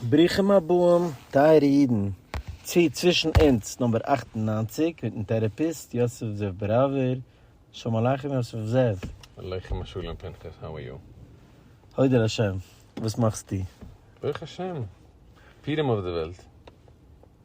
ברוכים הבאים טייערע אידן צו צווישן אונז נומבער אַכט און נײַנציק מיטן טערעפיסט יוסף זאב בראווער, שלום עליכם יוסף זאב. עליכם השלום פנחס, האו אר יו? הודו לשם, וואס מאכסטו? ברוך השם, פירם אויף די וועלט.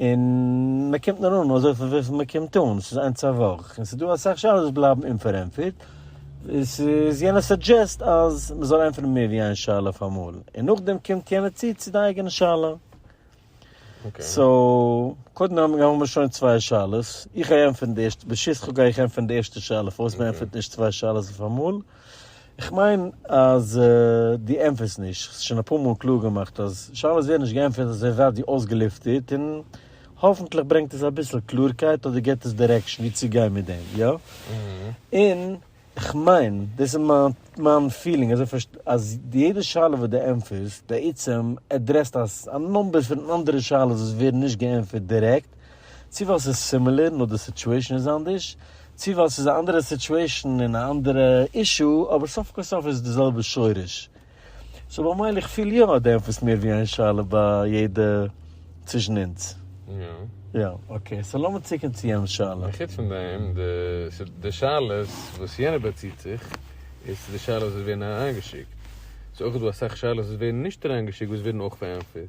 און מען קומט נאר אן אזויפיל וויפיל מען קומט אן, ס'איז איינס א וואך, און ס'איז דא אסאך שאלות וואס בלייבן אומפארענטפערט, עס איז יענער סאדזשעסט אז מען זאל ענטפערן מער ווי איין שאלה אויף אמאל, און נאכדעם קומט יענער צו צו די אייגענע שאלה. סאו, קודם האבן מיר שוין צוויי שאלות, איך גיי ענטפערן די ערשטע, בשותפך גיי איך ענטפערן די ערשטע שאלה פארוואס מען ענטפערט נישט צוויי שאלות אויף אמאל. איך מיין אז דו ענטפערסט נישט, איך האב עס שוין אפאר מאל קלאר געמאכט אז שאלות ווערן נישט געענטפערט אזוי ווייט ווי אויסגעלופטערט, און האפענטליך ברענגט עס אביסל קלארקייט אדער געבט עס דירעקשאן ווי צו גיין מיט דעם, יא? און איך מיין, דאס איז מיין מיין פילינג אזוי פארשט, אז יעדע שאלה וואס דו ענטפערסט בעצם עדרעסט א נומבער פון אנדערע שאלות וואס ווערן נישט געענטפערט דירעקט צי ווייל ס'איז סימילער נאר די סיטועשן איז אנדערש, צי ווייל ס'איז א אנדערע סיטועשן און א אנדערע אישו, אבער סוף כל סוף איז די זעלבע שורש. סאו במילא איך פיל יא אז די ענטפערסט מיר ווי איין שאלה ביי יעדע צווישן אונז. יא. אקעי, סאו לאמיר צוקומען צו יענעמ'ס שאלה. און חוץ פון דעם, די שאלות וואס יענער באציט זיך איז צו די שאלות וואס ווערן אריינגעשיקט. ס'איז אויך דא אסאך שאלות וואס ווערן נישט אריינגעשיקט וואס ווערן אויך פארענטפערט.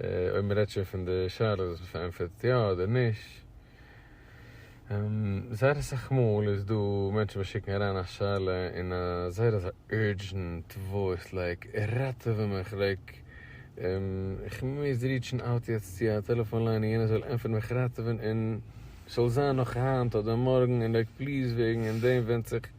אויב מען רעדט שוין פון די שאלות וואס מען פארענטפערט יא אדער נישט, זייער אסאך מאל איז דא מענטשן וואס שיקן אריין א שאלה אין א זייער אזא אורדזשענט וואויס לייק, ראטעווע מיך לייק, איך מוז ריטשן אוט יעצט צו א טעלעפאן ליין און יענער זאל ענטפערן מיך ראטעווען און ס'זאל זיין נאך היינט אדער מארגן און לייק פליז וועגן און דעם ווענדט זיך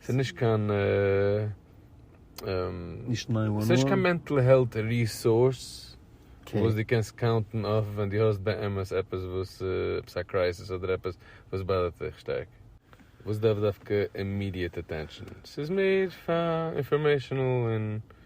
ס'איז נישט קיין נישט ניין וואן וואן. ס'נישט קיין מענטל העלט ריסארס וואס דו קענסט קאונטן אויף ווען דו האסט באמת עפעס וואס עפעס א קרייסיס אדער עפעס וואס באדערט דיך שטארק וואס דארף דווקא אימידיעט אטענשאן. ס'איז מער פאר אינפארמעישאנעל און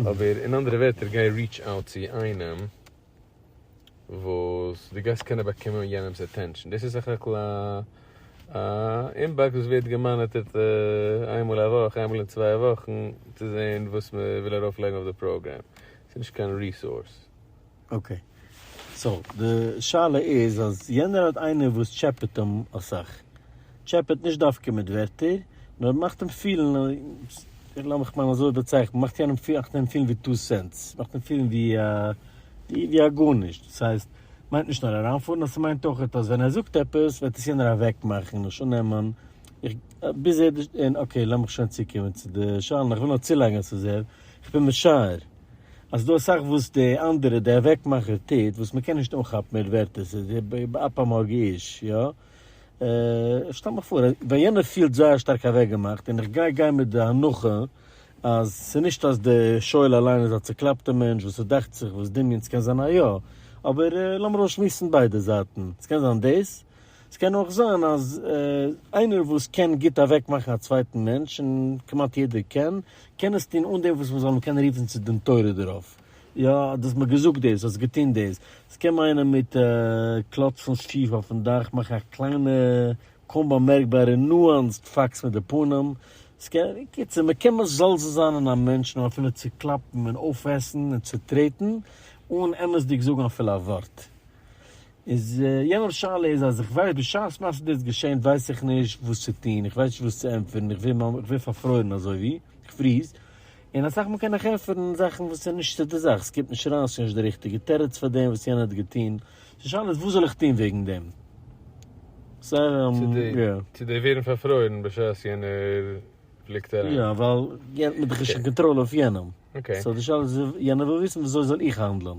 אבער אין אנדערע ווערטער גיי ריעטש אוט צו איינעם וואס דו גייסט קענען באקומען יענעמס אטענשאן, דאס איז סך הכל א אינבאקס וואס ווערט געמאניטערט איינמאל א וואך איינמאל אין צוויי וואכן צו זעהן וואס מען וויל ארויפלייגן אויף די פראגראם, ס'איז נישט קיין ריסארס. אקעי. סאו די שאלה איז אז יענער האט איינער וואס טשעפעט אים אסאך. טשעפעט נישט דווקא מיט ווערטער, נאר מאכט אים פילן, לאמיך מיין אזוי באצייכענען, מאכט יענעם פילן, מאכט אים פילן ווי טו סענטס, מאכט אים פילן ווי א, ווי א גארנישט. דאס הייסט, מיינט נישט נאר אריינפארן, נאר ס'מיינט אויכעט אז ווען ער זאגט עפעס וועט עס יענער אוועקמאכן, לשון נעמען, ביז ער, און אקעי לאמיך שוין צוקומען צו די שאלה, איך וויל נאר צולייגן אז ס'איז ער, איך בין משער. אז דא אסאך וואס די אנדערע די אוועקמאכער טוט וואס מען קען נישט אנכאפן מיט ווערטער ס'איז די באפ המאג איש יא איך שטעל מיך פאר ווען יענער פילט זייער שטארק אוועקגעמאכט און איך גיי גיין מיט די הנחה אז ס'נישט אז די שואל אליין איז א צוקלאפטע מענטש וואס ס'דאכט זיך וואס דמיון ס'קען זיין א יא אבער לאמיר אויסשמועסן ביידע זייטן ס'קען זיין דאס ס'קען אויך זיין אז איינער וואס קען גוט אוועקמאכן א צווייטן מענטש און כמעט יעדער קען קען עס טון אן דעם וואס מען זאל אים קענען רופן צו דין תורה דערויף, יא, דו האסט מיר געזאגט דאס, האסט געטון דאס. עס קען מיינען מיט קלאצן שיף אויפן דאך, מאכן א קליינע קוים באמערקבארע נואנסד פאקס מיט די פנים, עס קען, אין קיצור, מען קען מזלזל זיין אין א מענטש נאר אפילו צוקלאפן און אויפעסן און צוטרעטן, אן אמת'דיג זאגן אפילו א ווארט. איז יענעמס שאלה איז אז איך ווייס בשעת מעשה דאס געשענט ווייס איך נישט וואס צו טון איך ווייס נישט וואס צו ענטפערן איך ווער ממש איך ווער פארפרוירן אזוי ווי איך פריז און אסאך מאל קען איך ענטפערן זאכן וואס איז נישט צו די זאך עס קומט נישט אריין עס איז נישט די ריכטיגע תירוץ פאר דעם וואס יענער האט געטון די שאלה איז וואס זאל איך טון וועגן דעם סא יא. צו די ווערן פארפרוירן בשעת יענער פליקט ער איין. יא ווייל יענער האט דאך שוין קאנטראל אויף יענעם. סאו די שאלה איז יענער וויל וויסן וויאזוי זאל איך האנדלען?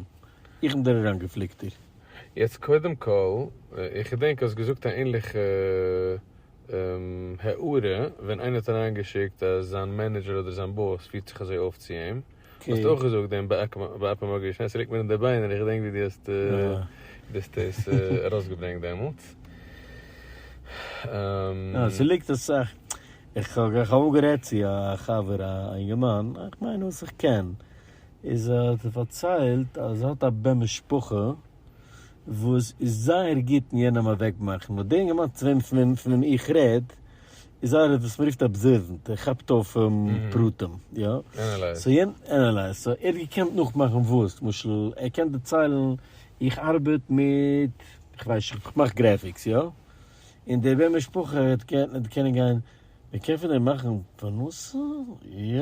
איך בין דער אריינגעפליקטער. יעצט קודם כל, איך געדענק האסט געזאגט א ענליכע הערה ווען איינער האט אריינגעשיקט אז זיין מענעדזשער אדער זיין באס פירט זיך אזוי אויף צו אים. האסט אויך געזאגט דעם בעפ אמאל געשען, ס'ליגט מיר אין די ביינער, איך געדענק ווי דו האסט עס ארויסגעברענגט דעמאלטס. יא, ס'ליגט אסאך, איך האב אמאל גערעדט צו א חבר א אינגערמאן, איך מיין וואס איך קען, איז ער האט פארציילט אז ער האט א בן משפחה וואס איז זייער גוט אין יענעם אוועקמאכן, נאר דער אינגערמאן צו וועם איך רעד איז איינער וואס מען רופט אבזערווענט ער כאפט אויף פרטים יא, ענעלייז, סאו ער האט געקענט נאכמאכן וואס, למשל ער קען דערציילן איך ארבעט מיט איך ווייס נישט איך מאך גרעפיקס יא, און דער בן משפחה האט געקענט גיין מען קען פון דעם מאכן פרנסה יא.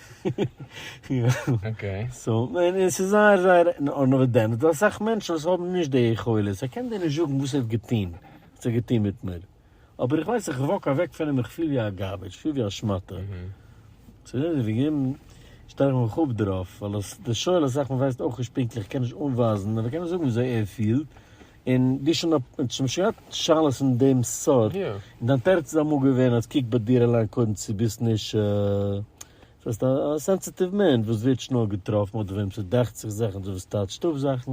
אקעי. סאו, און עס איז זייער זייער אנעוועדענט, ווייל אסאך מענטשן וואס האבן נישט די יכולת, ער קען דיר נישט זאגן וואס ער האט געטון, וואס ער האט געטון מיט מיר. אבער איך ווייס איך וואק אוועק פון אים איך פיל ווי א גארבעדזש, איך פיל ווי א שמאטע. צו רעדן וועגן אים, שטעל איך מיך אפ דערויף, ווייל די שואל אסאך מען ווייסט אויך נישט פונקטליך, קען נישט אנווייזן, אבער קען מען זאגן וויאזוי ער פילט, און דו שוין אפ, האט שוין געהאט שאלות אין דעם סארט, און דיין תירוץ איז אמאל געווען אז קוק ביי דיר אליין קודם צו ביסט נישט זייסט א סענסיטיוו מענטש וואס ווערט שנעל געטראפן אדער וועם ס'דאכט זיך זאכן אדער וואס טאטשט אויף זאכן,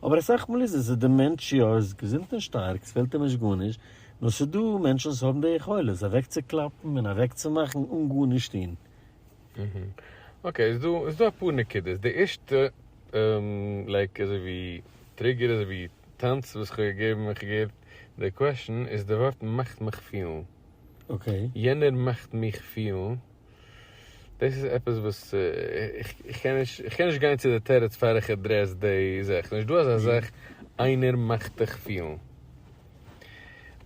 אבער אסאך מאל איז עס אז די מענטש יא איז געזונט און שטארק ס'פעלט אים נישט גארנישט, נאר ס'דא מענטשן וואס האבן די יכולת אוועקצוקלאפן און אוועקצומאכן אן גארנישט טון. אקעי, איז דא איז דא אפאר נקודות, די ערשטע לייק אזוי ווי טריגער אזוי ווי טענץ וואס כ'האב געגעבן ווען כ'האב געהערט די קוועשן איז די ווארט מאכט מיך פילן, אקעי, יענער מאכט מיך פילן, דאס איז עפעס וואס איך קען נישט איך קען נישט גיין צו די תירוץ פאר איך עדרעס די זאך, ס'נישט דא אזא זאך איינער מאכט דיך פילן.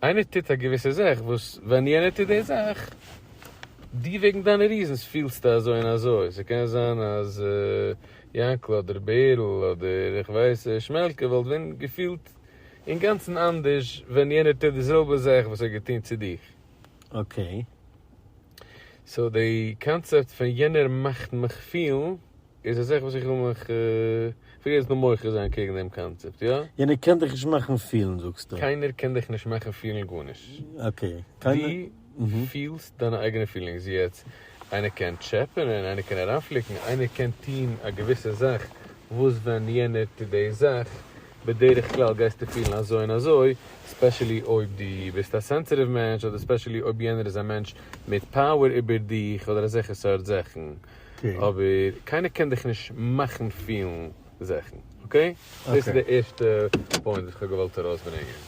איינער טוט א געוויסע זאך וואס ווען יענער טוט די זאך, דו וועגן דיינע ריזענס פילסטו אזוי און אזוי, ס'קען זיין אז יענקל אדער בערל אדער איך ווייס שמעלקע וואלט ווען געפילט אינגאנצן אנדערש ווען יענער טוט די זעלבע זאך וואס ער האט געטון צו דיך. אקעי. סאו די קאנצעפט פון יענער מאכט מיך פילן. איז א זאך וואס איך וויל מיך אפילו יעצט נאר מוחה זיין קעגן דעם קאנצעפט, יא? יענער קען דיך נישט מאכן פילן זאגסטו? קיינער קען דיך נישט מאכן פילן גארנישט. אקעי, קיינער. דו פילסט דיינע אייגענע פילינגס יעצט. איינער קען טשעפענען, איינער קען אריינפליקן, איינער קען טון א געוויסע זאך וואס ווען יענער טוט די זאך, בדרך כלל גייסטו פילן אזוי און אזוי, ספעשעלי אויב דו ביסט א סענסיטיוו מענטש, אדער ספעשעלי אויב יענער איז א מענטש מיט פאוער איבער דיך, אדער אזעלכע סארט זאכן. אבער קיינער קען דיך נישט מאכן פילן זעכן, אקעי? דאס איז די ערשטע פוינט וואס איך האב געוואלט ארויסברענגען.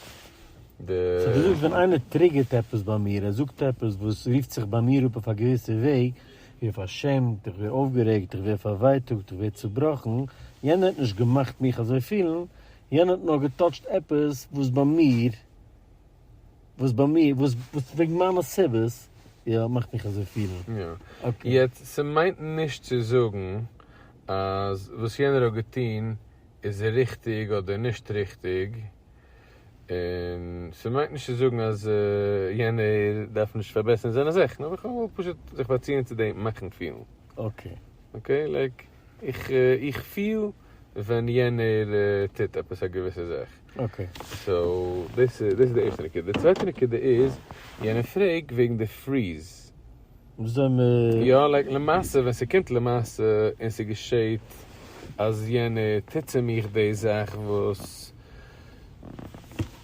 סאו דו זאגסט ווען איינער טריגערט עפעס ביי מיר, ער זאגט עפעס וואס רופט זיך ביי מיר אפ אויף א געוויסע וועג, איך ווער פארשעמט, איך ווער אויפגערעגט, איך ווער פארווייטאגט, איך ווער צובראכן, יענער האט נישט געמאכט מיך אזוי פילן, יענער האט נאר געטאטשט עפעס וואס ביי מיר וואס ביי מיר וואס וואס וועגן מיינע סיבות יא מאכט מיך אזוי פילן. יא. אקעי. יעצט ס'מיינט נישט צו זאגן אז וואס יענער האט געטון איז ריכטיג אדער נישט ריכטיג, און ס'מיינט נישט צו זאגן אז יענער דארף נישט פארבעסערן זיינע זאכן, אבער כ'וויל פשוט זיך באציען צו דעם מאכן פילן. אקעי. אקעי? לייק איך איך פיל ווען יענער טוט עפעס א געוויסע זאך. אקעי. סאו דאס איז דאס איז די ערשטע נקודה. די צווייטע נקודה איז יענער פרעג וועגן די פריז. וואס זענען מיר. יא לייק למעשה ווען ס'קומט למעשה און ס'געשעהט אז יענער טוט צו מיך די זאך וואס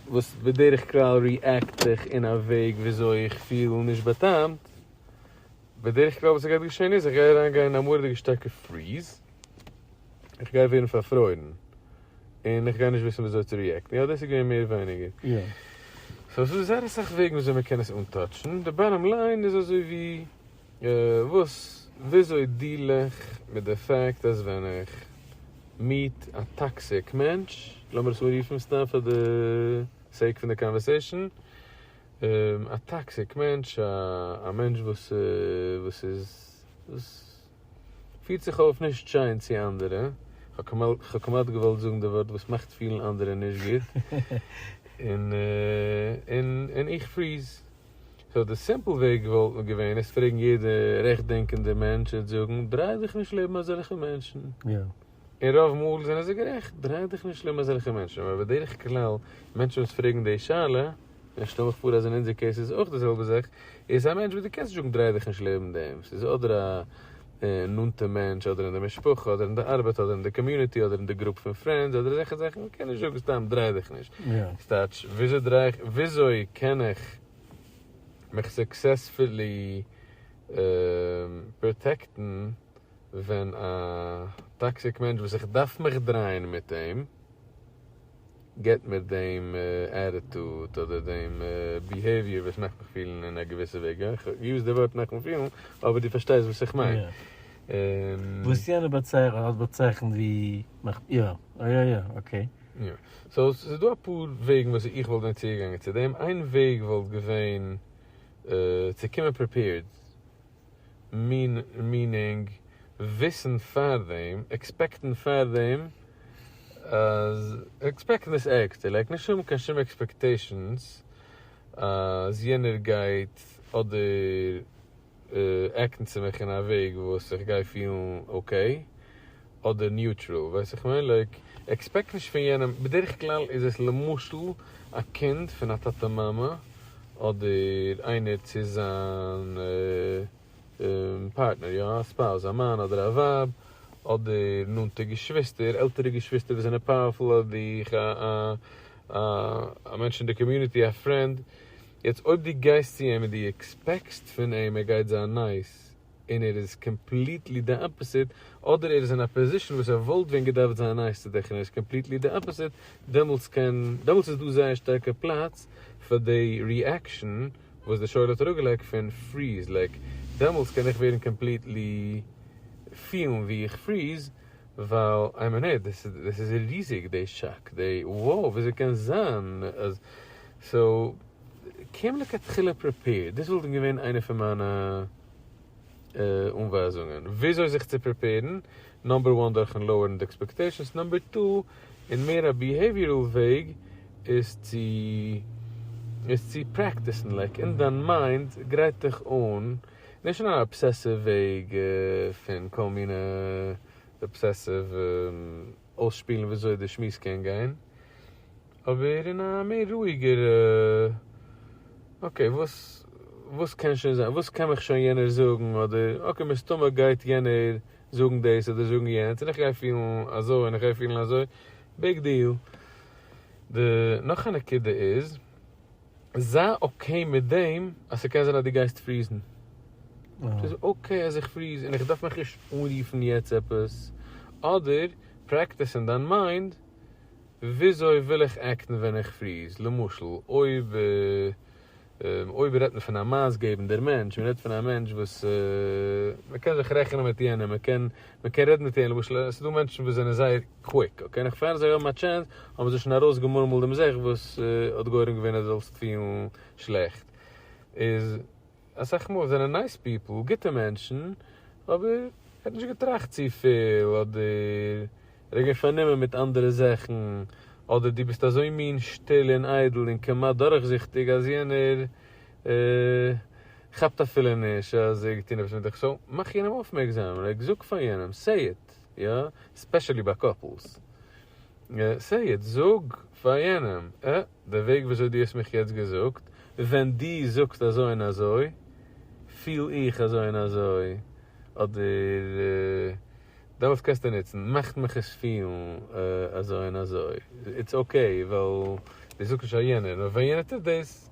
וואס בדרך כלל ריעקט איך אין א וועג וויאזוי איך פיל נישט בא'טעמ'ט, בדרך כלל וואס ס'גייט געשעהן איז איך גיי אריינגיין אין א מורא'דיגע שטארקע פריז. איך גיי ווערן פארפרוירן, און איך גיי נישט וויסן וויאזוי צו ריעקטן, יא דאס איז געווען מער ווייניגער. סאו ס'איז זייער אסאך וועגן וויאזוי מען קען עס אנטאטשן, די באטאם ליין איז אזוי ווי וואס וויאזוי דיעל איך מיט די פאקט אז ווען איך מיעט א טאקסיק מענטש, לאמיר עס אנרופן סתם פאר די סעיק פון די קאנווערסעישן, א טאקסיק מענטש, א מענטש וואס איז. פירט זיך אויף נישט שיין צו אנדערע, כ'האב כמעט געוואלט זאגן די ווארט וואס מאכט פילן אנדערע נישט גוט, און איך פריז. סאו די סימפל וועג וואלט געווען עס פרעגן יעדע רעכטדענקענדע מענטש און זאגן, דריי דיך נישט לעבן אזעלכע מענטשן. און רוב מאל זענען זיי גערעכט, דריי דיך נישט לעבן אזעלכע מענטשן, אבער בדרך כלל מענטשן וואס פרעגן די שאלה, און איך שטעל מיך פאר אז אין אונזער קעיס איז אויך די זעלבע זאך, איז א מענטש וואס דו קענסט נישט זאגן דריי דיך נישט לעבן דעם, ס'איז אדער א נאנטע מענטש אדער אין די משפחה אדער אין די ארבעט אדער אין די קאמיוניטי אדער אין די גרופ פון פרענדס אדער אזעלכע זאכן, מען קען נישט זאגן סתם דריי דיך נישט, ס'טייטש וויאזוי קען איך מיך סוקסעספולי פראטעקטן. ווען א טאקסיק מענטש וואס איך דארף מיך דרייען מיט אים געט מיר דעם עטיטוד אדער דעם ביהעיוויער וואס מאכט מיך פילן אין א געוויסע וועג, יא איך האב געיוזט די ווארט מאכן פילן אבער דו פארשטייסט וואס איך מיין. וואס יענער האט באצייכנט ווי מאכט יא יא יא יא אקעי. יא, סאו ס'איז דא אפאר וועגן וואס איך וואלט ווען צוגעגאנגען צו דעם, איין וועג וואלט געווען צו קומען פריפעירד, מינינג, וויסן פאר דעם, עקספעקטן פאר דעם, עקספעקטן איז עקט, ער לייגט נישט אן קיין שום עקספעקטעישאנס אז יענער גייט אדער עקטן צו מיך אין א וועג וואס איך גיי פילן אקעי, אדער ניוטרעל ווייס איך מער לייק עקספעקט נישט פון יענעם בדרך כלל איז עס למשל א קינד פון א טאטע מאמע אדער איינער צו זיין פארטנער יא א ספאוז א מאן אדער א ווייב אדער נאנטע געשוויסטער עלטערע געשוויסטער וואס זענען פאוערפול אדער א מענטש אין די קאמיוניטי א פרענד יעצט אויב דו גייסט צו אים און דו עקספעקסט פון אים ער גייט זיין נייס און ער איז קאמפליטלי די אפעסיט, אדער ער איז אין א פאזישן וואס ער וואלט ווען געדארפט זיין נייס צו דיך און ער איז קאמפליטלי די אפעסיט, דעמאלטס קען, דעמאלטס איז דא זייער שטארקע פלאץ פאר די ריעקשאן וואס די שואל האט אראפגעלייגט פון פריז, לייק, דעמאלטס קען איך ווערן קאמפליטלי פילן ווי איך פריז, ווייל איי מין העי, דאס איז ריזיג די שאק, די wow, וויאזוי קען זיין אז, סאו. קען לכתחילה פריפעיר, דאס וואלט געווען איינע פון מיינע אנווייזונגען וויאזוי זיך צו פריפעירן, נאמבער וואן דורכן לאוערן די עקספעקטעישאנס, נאמבער טו אין מער א ביהעיוויערל וועג איז צו איז צו פרעקטיסן, לייק אין דיין מיינד גרייט דיך אן, נישט אין אן אבסעסיוו וועג פון כל מיני אבסעסיוו. אויסשפילן וויאזוי דער שמועס קען גיין, אבער אין א מער רואיגער אקעי וואס וואס קען שוין זיין, וואס קען מיך שוין יענער זאגן, אדער אקעי מסתמא גייט יענער זאגן דאס אדער זאגן יענץ און איך גיי פילן אזוי און איך גיי פילן אזוי, ביג דיעל. די נאך א נקודה איז זיי אקעי מיט דעם אז ס'קען זיין אז דו גייסט פריזן. ס'איז אקעי אז איך פריז און איך דארף מיך נישט אנרופן יעצט עפעס. אדער פרעקטיס אין דיין מיינד, וויאזוי וויל איך עקטן ווען איך פריז? למשל, אויב אויב רעדט מען פון א מאסגעבנדער מענטש, מ'רעדט פון א מענטש וואס מ'קען זיך רעכענען מיט יענעם, מ'קען מען קען רעדן מיט אים, למשל עס איז דא מענטשן וואס זענען זייער קוויק, אקעי, נאך פאר זיי האבן א טשענס האבן זיי שוין ארויס געמורמלט דעם זאך וואס האט גורם געווען אז דו זאלסט פילן שלעכט, איז אסאך מאל זענען נייס פיפל, גוטע מענטשן, אבער ער האט נישט געטראכט צופיל, אדער ער איז געווען פארנומען מיט אנדערע זאכן, אדער דו ביסט אזוי מין שטיל און איידל און כמעט דורכזיכטיג אז יענער. כאפט אפילו נישט אז ער האט געטון עפעס מיט די חשבון, מאך יענעם אויפמערקזאם, לייג זאג פאר יענעם, סעי איט, יא, ספעשעלי ביי קאפלס, סעי איט, זאג פאר יענעם, אה, די וועג וויאזוי דו האסט מיך יעצט געזאגט, ווען דו זאגסט אזוי און אזוי, פיל איך אזוי און אזוי, אדער, דעמאלטס קענסטו נוצן, מאכט מיך עס פילן אזוי און אזוי, איטס אקעי, ווייל דו זאגסט נישט פאר יענער, נאר ווען יענער טוט דאס,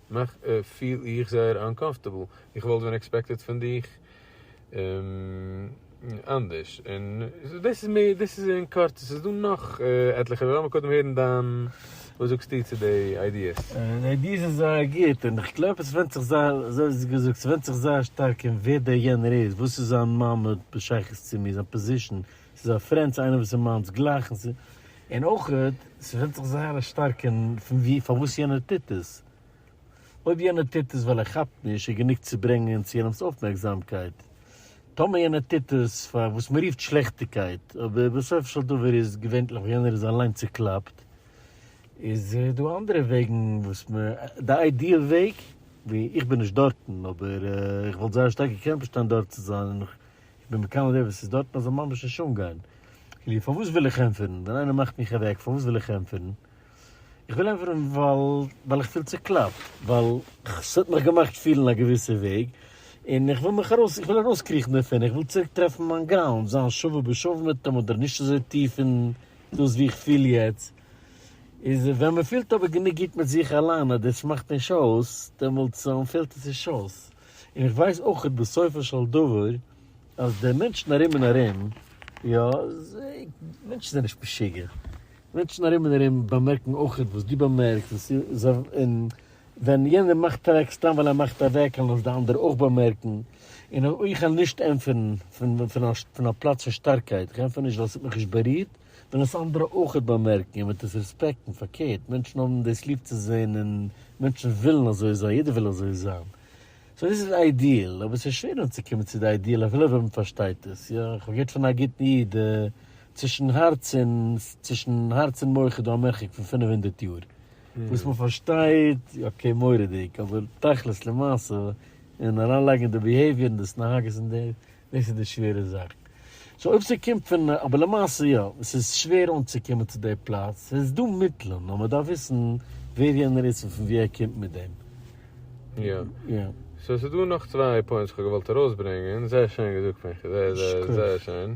נאך פיל איך זייער אנקאמפארטעבל, איך וואלט ווען עקספעקטעד פון דיך אנדערש, און דאס איז מער דאס איז אין קורצן, ס'איז דא נאך עטליכע אבער לאמיר קודם הערן דיין וואס זאגסטו צו די איידיעס. די איידיעס איז זייער גוט, און איך גלייב עס ווענדט זיך זייער אזוי געזאגט ס'ווענדט זיך זייער שטארק אין ווער דער יענער איז, וואס איז זיין מעמד בשייכות צו מיר, זיין פאזישן, ס'איז א פרענד צו איינער וואס איז מיינס גלייך און ס'איז. און אויכעט, ס'ווענדט זיך זייער א שטארק אין פון ווי פארוואס יענער טוט עס. אויב יענער טוט עס ווייל ער כאפט נישט איז גענוג צו ברענגען צו יענעמ'ס אויפמערקזאמקייט. טאמער יענער טוט עס פאר וואס מ'רופט שלעכטיגקייט, אבער בסופו של דבר איז געווענטליך ווען יענער איז אליין צוקלאפט, איז דא אנדערע וועגן וואס מ. די איידיעל וועג, ווי, איך בין נישט דארטן, אבער איך וואלט זייער שטארק געקענט באשטיין דארט צו זיין און איך איך בין מקנא די וואס איז דארט אז זיי ממש נישט אנגיין. כאילו פארוואס וויל איך ענטפערן? ווען איינער מאכט מיך אוועק פארוואס וויל איך ענטפערן? איך וויל ענטפערן ווייל ווייל איך פיל צוקלאפט, ווייל ס'האט מיך געמאכט פילן א געוויסע וועג, און איך וויל מיך ארויס איך וויל ארויסקריכן דערפון, איך וויל צוריק טרעפן מיין גראונד, זיין שווה בשווה מיט אים אדער נישט אזוי טיף אין דאס ווי איך פיל יעצט. איז ווען מ'פילט אבער גענוג גוט מיט זיך אליין אז דאס מאכט נישט אויס, דעמאלטס פעלט עס נישט אויס. און איך ווייס אויך בסופו של דבר אז די מענטשן ארום און ארום, יא, מענטשן זענען נישט משוגע, מענטשן ארום און ארום באמערקן אויך וואס דו באמערקסט, און ס'איז א, און ווען יענער מאכט אוועק סתם ווייל ער מאכט אוועק און לאזט די אנדערע אויך באמערקן, און איך העל נישט ענטפערן פון א פלאץ פון שטארקייט, איך ענטפער נישט ווייל ס'האט מיך נישט בארירט, וועלן עס אנדערע אויכעט באמערקן און וועט עס רעספעקטן, פארקערט, מענטשן האבן דאס ליב צו זען און מענטשן ווילן אזוי זיין, יעדער וויל אזוי זיין. סאו דאס איז די איידיעל, אבער ס'איז שווער אנצוקומען צו די איידיעל אפילו ווען מ'פארשטייט עס, יא, איך האב געהערט פון א גוטן איד, די צווישן הארץ און צווישן הארץ און מח איז דא א מרחק פון פינף הונדערט יאר, וואס מ'פארשטייט, אקעי מורא'דיג, אבער תכלית למעשה און אריינלייגן אין די ביהעיוויער און דאס נהגות און די. דאס איז די שווערע זאך. סאו אויב ס'קומט פון, אבער למעשה יא, ס'איז שווער אנצוקומען צו די פלאץ, ס'איז דא מיטלען, נאר מ'דארף וויסן ווער יענער איז און פון ווי ער קומט מיט דעם. יא. יא. סאו ס'איז דא נאך צוויי פוינטס וואס כ'האב געוואלט ארויסברענגען, זייער שיין געזאגט פון חזי, זייער זייער שיין.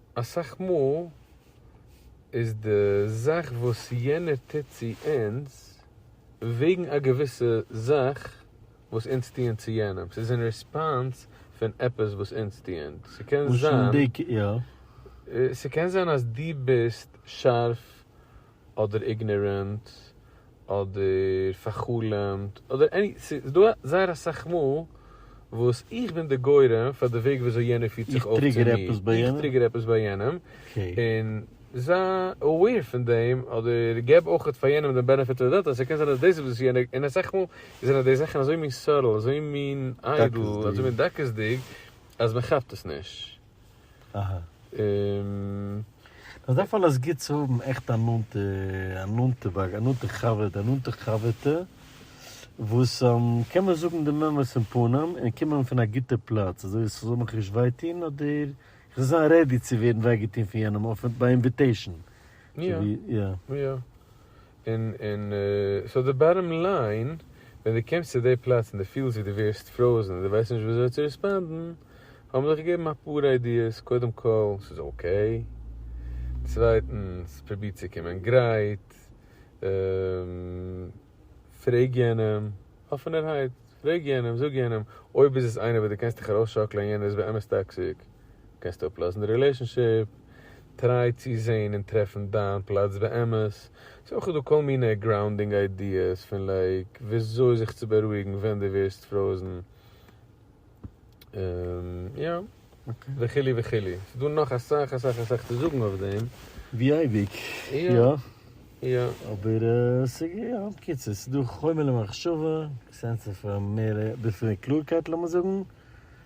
אסאך מאל איז די זאך וואס יענער טוט צו אונז וועגן א געוויסע זאך וואס אונז טוען צו יענעם, ס'איז אין ריספאנס פון עפעס וואס אונז טוען, ס'קען זיין אז דו ביסט שארף אדער איגנארענט, אדער פארחלומט, אדער עני, ס'איז דא זייער אסאך מאל וואס איך בין די גורם פאר די וועג וויאזוי יענער פירט זיך אויף צו מיר, איך טריגער עפעס ביי יענעם, און זיי אוועיר פון דעם, אדער געב אויך פאר יענעם דעם בענעפיט אוו די דאוט אז ס'קען זיין אז דאס איז וואס יענער, און אסאך מאל זענען די זאכן אזוי מין סאטעל, אזוי מין איידל, אזוי מין דקות'דיג, אז מ'כאפט עס נישט. אזא פאל איז גוט צו האבן עכט א נאנטע, א נאנטע באק, א נאנטע חבר, א נאנטע חבר'טע, וואס קען מען זאגן דעם אמת אין פנים, און קומען פון א גוטע פלאץ, אזוי אז ס'זאל מיך נישט וויי טון, אדער כ'זאל זיין רעדי צו ווערן וויי געטון פון יענעם אויף ביי אינוויטעישן. יא, יא. און און סאו די באטאם ליין, ווען דו קומסט צו די פלאץ און דו פילסט ווי דו ווערסט פראזן און דו ווייסט נישט וויאזוי צו ריספאנדן, האבן זיך געגעבן אפאר איידיעס, קודם כל, ס'איז אקעי. צווייטנס, פרוביר צו קומען גרייט. פרעג יענעם, אפענערהייט, פרעג יענעם, זאג יענעם, אויב איז עס איינער וואס דו קענסט דיך ארויסשאקלען און יענער איז באמת טאקסיק, קענסטו אפלאזן די רילעישאנשיפ. טריי צו זעהן און טרעפן דיין פלאץ באמת, ס'איז אויך דא כל מיני גראונדינג איידיעס פון לייק וויאזוי זיך צו בארואיגן ווען דו ווערסט פראוזן און יא וכו' וכו', ס'איז דא נאך אסאך אסאך אסאך צו זאגן אויף דעם. ווי אייביג, יא. יא. אבער ס'איז יא, בקיצור, ס'איז דא חומר למחשבה, סענס אוו מער ביסל קלארקייט לאמיר זאגן,